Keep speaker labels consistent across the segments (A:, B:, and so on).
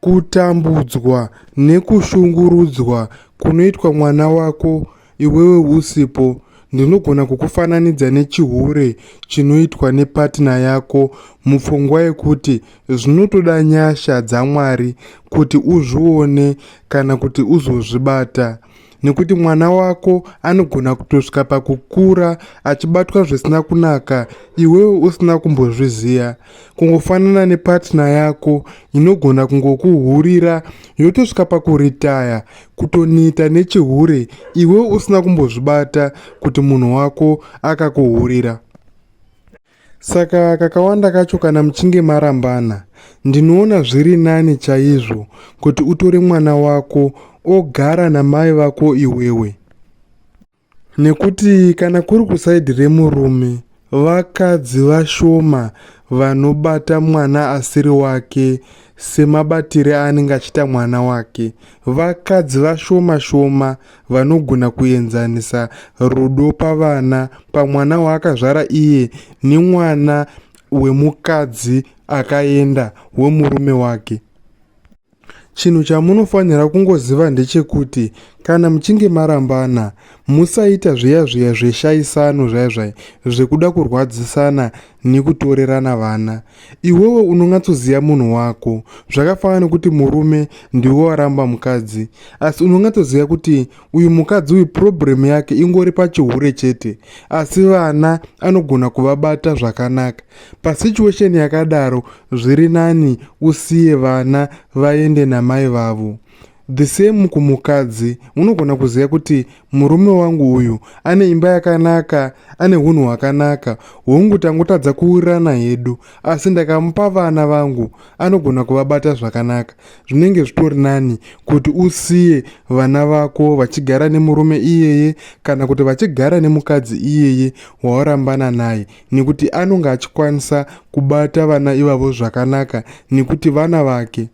A: Kutambudzwa nekushungurudzwa kunoitwa mwana wako iwewe usipo ndinogona kukufananidza nechihure chinoitwa nepatina yako mupfungwa yekuti zvinotoda nyasha dzaMwari kuti uzvione kana kuti uzozvibata. nekuti mwana wako anogona kutosvika pakukura achibatwa zvisina kunaka iwewe usina kumbozviziva kungofanana nepatna yako inogona kungokuhurira yotosvika pakuritaya kutonita nechihure iwewe usina kumbozvibata kuti munhu wako akakuhurira Saka kakawanda kacho kana muchinge marambana, ndinoona zviri nani chaizvo kuti utore mwana wako ogara namai vako iwewe. Nekuti kana kuri kusaidhi remurume, vakadzi vashoma vanobata mwana asiri wake semabatire aanenge achiita mwana wake. Vakadzi vashoma shoma vanogona kuenzanisa rudo pavana pamwana waakazvara iye nemwana wemukadzi akaenda wemurume wake chinhu chamunofanira kungoziva ndechekuti kana muchinge marambana musaita zviya zviya zveshaisano zvaizvai zvekuda kurwadzisana nekutorerana vana Iwewe unongatsoziva munhu wako zvakafanana nekuti murume ndiwe waramba mukadzi asi unongatsoziva kuti uyu mukadzi uyu problem yake ingori pachihure chete asi vana anogona kuvabata zvakanaka pasituation yakadaro zviri nani usiye vana vaende namai vavo The same kumukadzi unogona kuziva kuti murume wangu uyu ane imba yakanaka ane hunhu hwakanaka hongu tangotadza kuwirirana hedu asi ndakamupa vana vangu anogona kuvabata zvakanaka zvinenge zvitori nani kuti usiye vana vako vachigara nemurume iyeye kana kuti vachigara nemukadzi iyeye wawarambana naye nekuti anonge achikwanisa kubata vana ivavo zvakanaka nekuti vana vake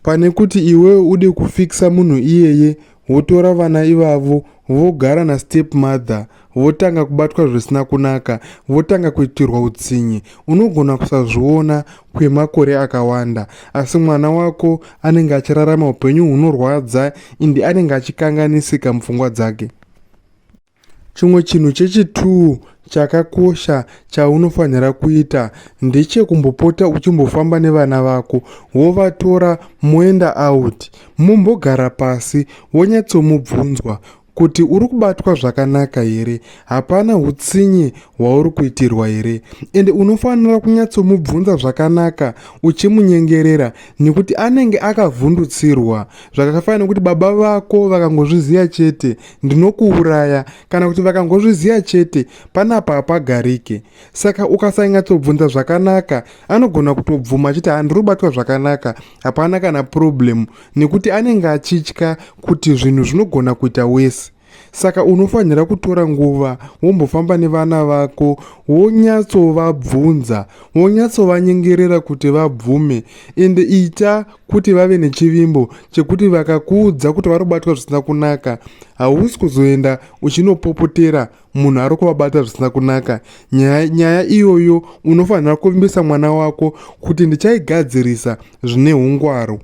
A: pane kuti iwewe ude kufikisa munhu iyeye wotora vana ivavo vogara nastep mother votanga kubatwa zvisina kunaka votanga kuitirwa utsinye unogona kusazviona kwemakore akawanda asi mwana wako anenge achirarama upenyu hunorwadza indi anenge achikanganisika mupfungwa dzake Chimwe chinhu chechituu chakakosha chaunofanira kuita ndechekumbopota uchimbofamba nevana vako wovatora moenda out mumbogara pasi wonyatsomubvunzwa kuti uri kubatwa zvakanaka here hapana utsinye hwauri kuitirwa here ende unofanira kunyatsomubvunza zvakanaka uchimunyengerera nekuti anenge akavhundutsirwa zvakafanira kuti baba vako vakangozviziva chete ndinokuuraya kana kuti vakangozviziva chete panapa hapagarike saka ukasanyatsobvunza zvakanaka anogona kutobvuma achiti handiri kubatwa zvakanaka hapana kana purobhuremu nekuti anenge achitya kuti zvinhu zvinogona kuita wese saka unofanira kutora nguva wombofamba nevana vako wonyatsovabvunza wonyatsovanyengerera kuti vabvume ende ita kuti vave nechivimbo chekuti vakakuudza kuti vari kubatwa zvisina kunaka hausi kuzoenda uchinopopotera munhu ari kuvabata zvisina kunaka nyaya, nyaya iyoyo unofanira kuvimbisa mwana wako kuti ndichaigadzirisa zvine ungwaru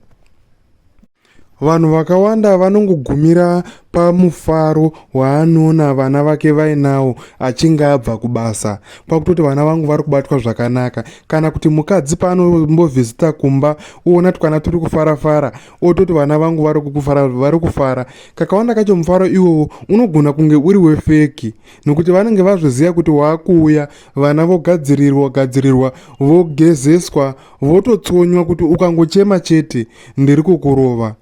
A: vanhu vakawanda vanongogumira pamufaro waanoona vana vake vainawo achinge abva kubasa kwakutoti vana vangu vari kubatwa zvakanaka kana kuti mukadzi paanombovhizita kumba uona twana turi kufara fara ototi vana vangu vari kufara vari kufara kakawanda kacho mufaro iwowo unogona kunge uri wefeki nokuti vanenge vazviziva kuti waakuuya vana vogadzirirwa gadzirirwa vogezeswa vototsonywa kuti ukangochema chete ndiri kukurova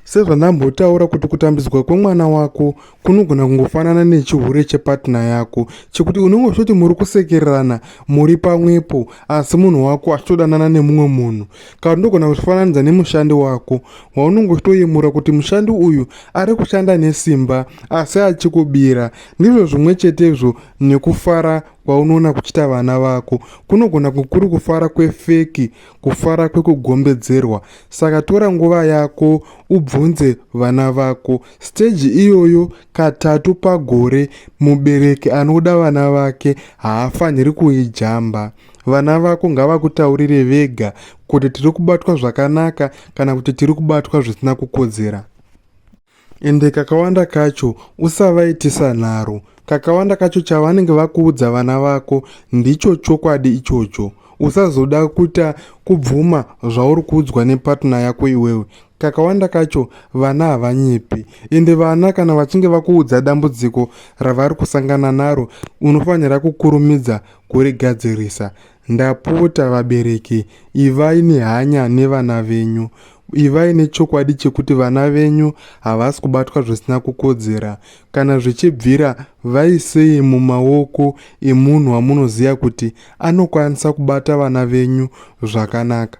A: Sezvandambotaura kuti kutambidzwa kwemwana wako kunogona kungofanana nechihure chepatna yako chekuti unenge uchitoti muri kusekererana muri pamwepo asi munhu wako achitodanana nemumwe munhu kana ndogona kuzvifananidza nemushandi wako waunenge uchitoyemura kuti mushandi uyu ari kushanda nesimba asi achikubira ndizvo zvimwe chetezvo nekufara kwaunoona kuchita vana vako kunogona kukuri kufara kwefeki kufara kwekugombedzerwa saka tora nguva yako ubvunze vana vako stage iyoyo katatu pagore mubereki anoda vana vake haafaniri kuijamba vana vako ngavakutaurire vega kuti tiri kubatwa zvakanaka kana kuti tiri kubatwa zvisina kukodzera ende kakawanda kacho usavaitisa nharo kakawanda kacho chavanenge vakuudza vana vako ndicho chokwadi ichocho usazoda kuita kubvuma zvauri kuudzwa nepatna yako iwewe kakawanda kacho vana havanyepi ende vana kana vachinge vakuudza dambudziko ravari kusangana naro unofanira kukurumidza kurigadzirisa Ndapota vabereki, ivai nehanya nevana venyu. Ivai nechokwadi chekuti vana venyu havasi kubatwa zvisina kukodzera. Kana zvichibvira, vaisei mumaoko emunhu wamunoziva kuti anokwanisa kubata vana venyu zvakanaka.